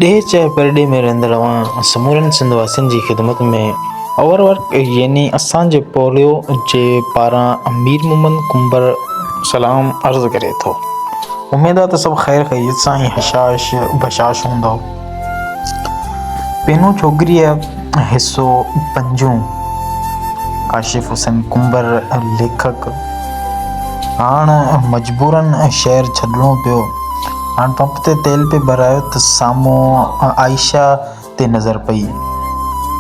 ڏيهه چاهي پرڏيهه ۾ رهندڙ اوهان سمورن سنڌ واسين جي خدمت ۾ اوور ورڪ يعني اسان جي پوليو جي پاران مير محمد ڪنڀر سلام عرض ڪري ٿو اميد آ ته سڀ خير خيريت سان ۽ هشاش بشاش هوندؤ. پينو ڇوڪريء حصو پنجون ڪاشف حسين ڪنڀر ليکڪ هاڻ مجبوراً شهر ڇڏڻو پيو. هاڻ پمپ تي تيل پئي ڀرايو ته سامهون عائشه تي نظر پئي،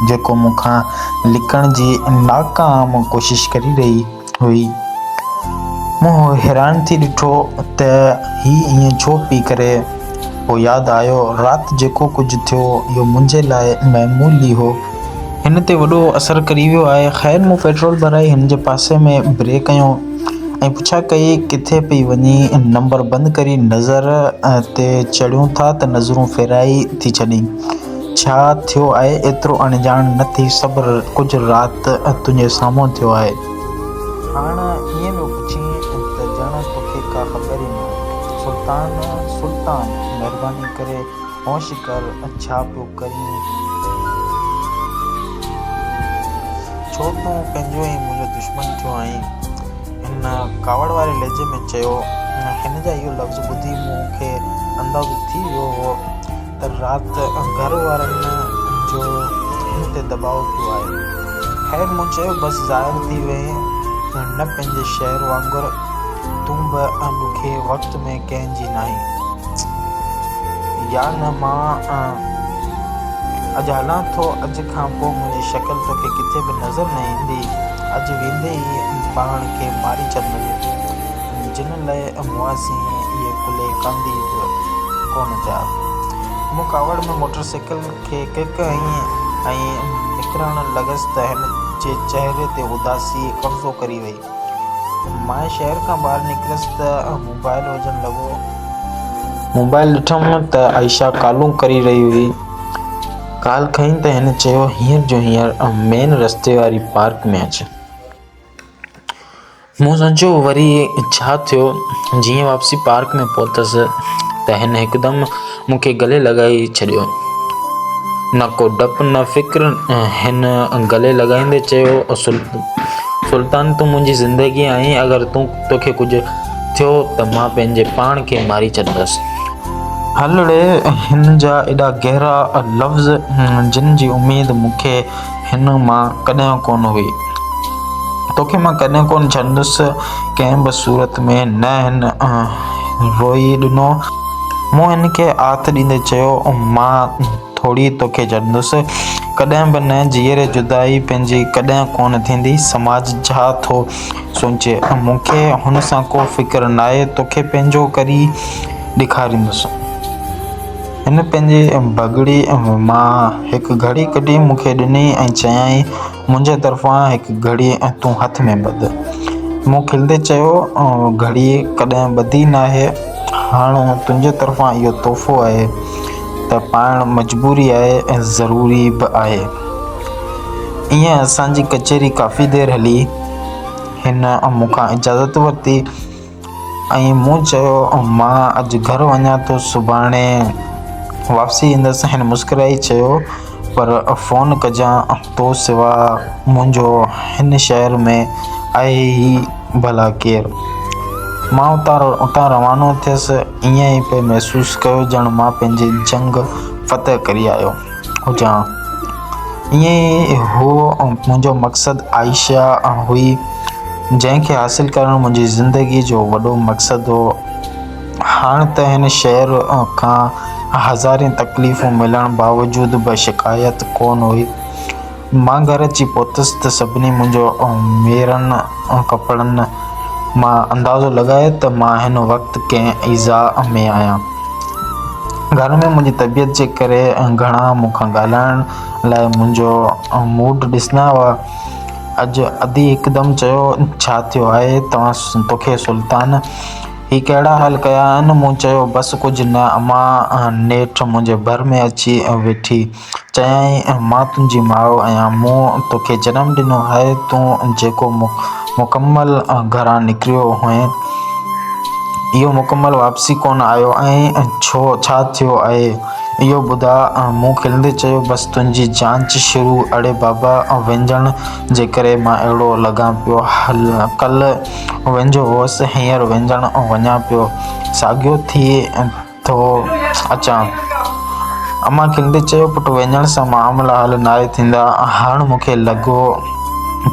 جيڪو مون کان لڪڻ جي ناڪام ڪوشش ڪري رهي هئي. مون حيران ٿي ڏٺو ته هي ائين ڇو پئي ڪري. پوء ياد آيو رات جيڪو ڪجهه ٿيو اهو منهنجي لاء معمول ئي هو. هن تي وڏو اثر ڪري ويو آهي. خير مون پيٽرول ڀرائي هن جي پاسي ۾ بريڪ هنيو ۽ پڇا ڪئي ڪٿي پئي وڃي. نمبر بند ڪري نظر تي چڙهيون ٿا ته نظرون ڦيرائي ٿي ڇڏين. ڇا ٿيو آهي ايترو اڻڄاڻ نه ٿي صبر ڪجهه رات تنهنجي سامهون ٿيو آهي. هاڻ ائين پيو پڇين ته ڄڻ توکي ڪا خبر ئي نه هجي. سلطان، سلطان! مهرباني ڪري هوش ڪر ڇا پيو ڪرين؟ ڇو تون پنهنجو ۽ منهنجو دشمن ٿيو آهين؟ هن ڪاوڙ واري لهجي ۾ چيو. هن جا اهي لفظ ٻڌي مون کي اندازو ٿي ويو هو ته رات گهر وارن جو مون تي دٻاء پيو آهي. خير مون چيو بس ظاهر ٿي وئين نه پنهنجي شهر وانگر تون به ڏکي وقت ۾ ڪنهن جي ناهين يا نه مان اڄ هلان ٿو اڄ کان پوء منهنجي شڪل توکي ڪٿي به نظر نه ايندي اڄ ويندي ئي پاڻ کي ماري ڇڏندين. جن لئه موازي اهي ڪلهي ڪاندي به ڪونه ٿيا. مون ڪاوڙ ۾ موٽر سائيڪل کي ڪڪ هنئي ۽ نڪرڻ لڳس ته هن جي چهري تي اداسي قبضو ڪري وئي. ماء شهر کان ٻاهر نڪريس ته موبائل وڄڻ لڳو. موبائل ڏٺم ته عائشه ڪالون ڪري رهي هئي. ڪال کئين ته هن چيو هينئر جو هينئر مين رستي واري پارڪ ۾ اچ. مون سوچيو وري ڇا ٿيو جيئن واپسي پارڪ ۾ پهتس ته هن هڪدم مون کي گلي لڳائي ڇڏيو نه ڪو ڊپ نه فڪر هن گلي لڳائيندي چيو سلطان تون منهنجي زندگي آهين اگر تون توکي ڪجهه ٿيو ته مان پنهنجي پاڻ کي ماري ڇڏيندس هلڙي هن جا ايڏا گهرا لفظ جن جي اميد مون کي هن مان ڪڏهن ڪونه هئي. توکي مان ڪڏهن ڪونه ڇڏندس ڪنهن به صورت ۾ نه هن روئي ڏنو. مون هن کي آٿ ڏيندي چيو مان ٿوري توکي ڇڏندس ڪڏهن به نه جيئري جدائي پنهنجي ڪڏهن ڪونه ٿيندي سماج ڇا ٿو سوچي مون کي هن سان ڪو فڪر ناهي توکي پنهنجو ڪري ڏيکاريندس. هن پنهنجي بگڙي مان هڪ گهڙي ڪڍي مون کي ڏني ۽ چيائين، منهنجي طرفان هڪ گهڙي تون هٿ ۾ ٻڌ. مون کلندي چيو، گهڙي ڪڏهن ٻڌي ناهي. هاڻ تنهنجي طرفان اهو تحفو آهي ته پائڻ مجبوري آهي ۽ ضروري به آهي. ائين اسان جي ڪچهري ڪافي دير هلي. هن مون کان اجازت ورتي. ۽ مون چيو مان اڄ گهر وڃان ٿو سڀاڻي واپسي ايندس هن مسڪرائي چيو پر فون ڪجان تو سوا منهنجو هن شهر ۾ آهي ئي ڀلا ڪير مان اتان اتان روانو ٿيس ائين پئي محسوس ڪيو ڄڻ مان پنهنجي جنگ فتح ڪري آيو هجان. ائين ئي هو منهنجو مقصد عائشه هئي، جنهن کي حاصل ڪرڻ منهنجي زندگيء جو وڏو مقصد هو. هاڻ ته هن شهر کان هزارين تڪليفون ملڻ باوجود به شڪايت ڪونه هئي. مان گهر اچي پهتس ته سڀني منهنجو ۽ ميرن ڪپڙن مان اندازو لڳايو ته مان هن وقت ڪنهن ايذاء ۾ آهيان. گهر ۾ منهنجي طبيعت جي ڪري گهڻا مون کان ڳالهائڻ لاء منهنجو موڊ ڏسندا هئا. اڄ ادي هڪدم چيو، ڇا ٿيو آهي توکي سلطان؟ هي ڪهڙا حال ڪيا آهن؟ مون چيو، بس ڪجهه نه امان نيٺ منهنجي ڀر ۾ اچي ويٺي. چيائين، مان تنهنجي ماء آهيان، مون توکي جنم ڏنو آهي، تون جيڪو مڪمل گهران نڪريو هئين، اهو مڪمل واپسي ڪونه آيو ۽ ڇو ڇا ٿيو آهي، اهو ٻڌاء. مون کلندي چيو، بس تنهنجي جاچ شروع، اڙي بابا وينجهڻ جي ڪري مان اهڙو لڳان پيو، ڪلهه وينجهو هوس، هينئر وينجهڻ وڃان پيو، ساڳيو ٿئي. ٿو اچان. امان کيندي چيو، پٽ وڃڻ سان معاملا حل ناهي ٿيندا. هاڻ مون کي لڳو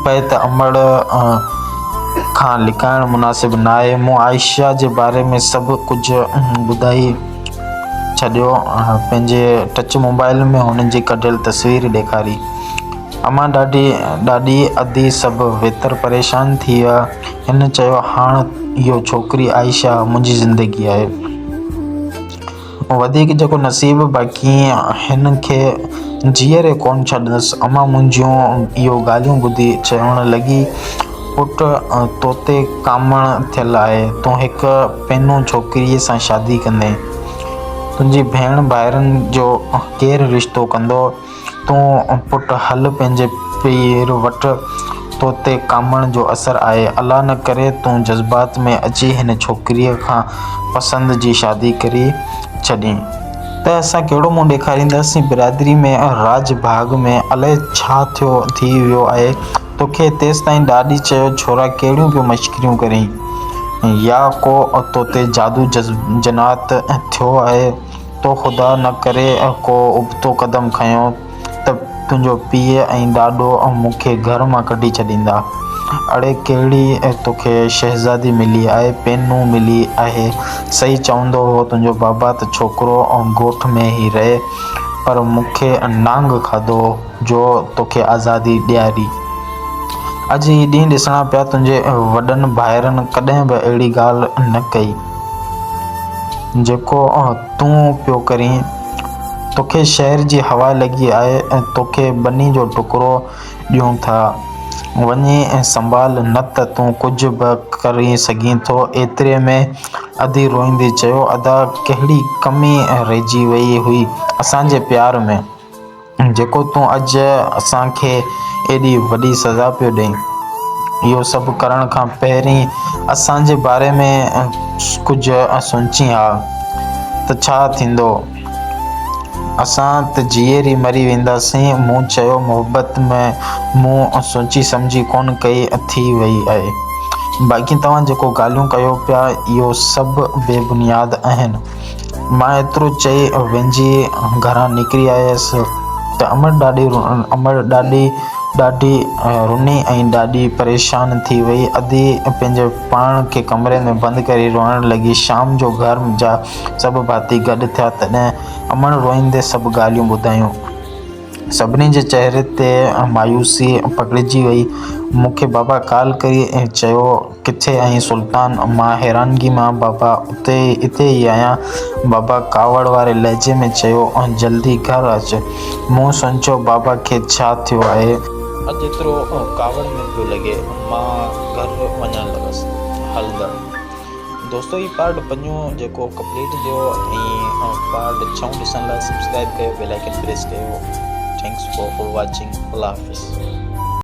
پئي ته امڙ کان لڪائڻ مناسب ناهي. مون عائشه جي باري ۾ سڀ ڪجهه ٻڌائي ڇڏيو. پنهنجي ٽچ موبائيل ۾ هن جي ڪڍيل تصوير ڏيکاري. امان ڏاڍي ڏاڏي ادي سڀ ويتر پريشان ٿي ويا. هن چيو، هاڻ اهو ڇوڪري عائشه منهنجي زندگي آهي. وڌيڪ جيڪو نصيب باقي هن کي جيئري ڪونه ڇڏيندس. امان منهنجيون اهو ڳالهيون ٻڌي چوڻ لڳي، پٽ توتي ڪامڻ ٿيل آهي، تون هڪ پينو ڇوڪريء سان شادي ڪندين. تنهنجي ڀيڻ ڀائرن جو ڪير رشتو ڪندو؟ تون پٽ هل پنهنجي پير وٽ، تو تي ڪامڻ جو اثر آهي. الله نه ڪري تون جذبات ۾ اچي هن ڇوڪريء کان پسند جي شادي ڪري ڇڏين ته اسان ڪهڙو منهن ڏيکارينداسين برادري ۾، راڄ ڀاڳ ۾، الائي ڇا ٿيو ٿي ويو آهي توکي؟ تيستائين ڏاڏي چيو ڇورا ڪهڙيون پيو مشڪريون ڪرين يا ڪو تو تي جادو جنات ٿيو آهي. تو خدا نه ڪري ڪو ابتو قدم کنيو ته تنهنجو پيء ۽ ڏاڏو مون کي گهر مان ڪڍي ڇڏيندا. اڙي ڪهڙي توکي شهزادي ملي آهي، پينهون ملي آهي. صحيح چوندو هو تنهنجو بابا ته ڇوڪرو ڳوٺ ۾ ئي رهي پر مون کي نانگ کاڌو جو توکي آزادي ڏياري. اڄ هي ڏينهن ڏسڻا پيا تنهنجي وڏن ڀائرن ڪڏهن به اهڙي ڳالهه نه ڪئي. جيڪو تون پيو ڪرين، توکي شهر جي هوا لڳي آهي ۽ توکي ٻني جو ٽڪرو ڏيون ٿا. وڃي ۽ سنڀال نه ته تون ڪجهه به ڪري سگهين ٿو. ايتري ۾ ادي روئيندي چيو، ادا ڪهڙي ڪمي رهجي وئي هئي اسان جي پيار ۾. جيڪو تون اڄ اسان کي ايڏي وڏي سزا پيو ڏئين. اهو سڀ ڪرڻ کان پهرين اسان جي باري ۾ ڪجهه سوچين ها ته ڇا ٿيندو؟ اسان ته جيئري ئي مري وينداسين. مون چيو، محبت ۾ مون سوچي سمجهي ڪونه ڪئي ٿي وئي آهي. باقي توهان جيڪو ڳالهيون ڪيو پيا اهو سڀ بي بنياد آهن. مان ايترو چئي وينجهي گهران نڪري آيس ته امڙ ڏاڏي امڙ ڏاڏي ڏاڍي رني ۽ ڏاڍي پريشان ٿي وئي. ادي پنهنجي پاڻ کي ڪمري ۾ بند ڪري روئڻ لڳي. شام جو گهر جا سڀ ڀاتي گڏ ٿيا تڏهن امڙ روئيندي سڀ ڳالهيون ٻڌايون. سڀني جي چهري تي مايوسي پکڙجي وئي. مون کي بابا ڪال ڪري چيو، ڪٿي آهين سلطان؟ مان حيرانگي مان، بابا اتي اتي ئي آهيان. بابا ڪاوڙ واري لهجي ۾ چيو، جلدي گهر اچ. مون سوچيو بابا کي ڇا ٿيو آهي؟ اڄ ايترو ڪاوڙ نه پيو لڳي. مان گهر وڃڻ لڳس. هلندڙ. دوستو هي پارٽ پنجون جيڪو ڪمپليٽ ٿيو ۽ پارٽ ڇهون ڏسڻ لاء سبسڪرائب ڪيو بيل آئڪن پريس ڪيو ٿينڪس فار واچنگ الله حافظ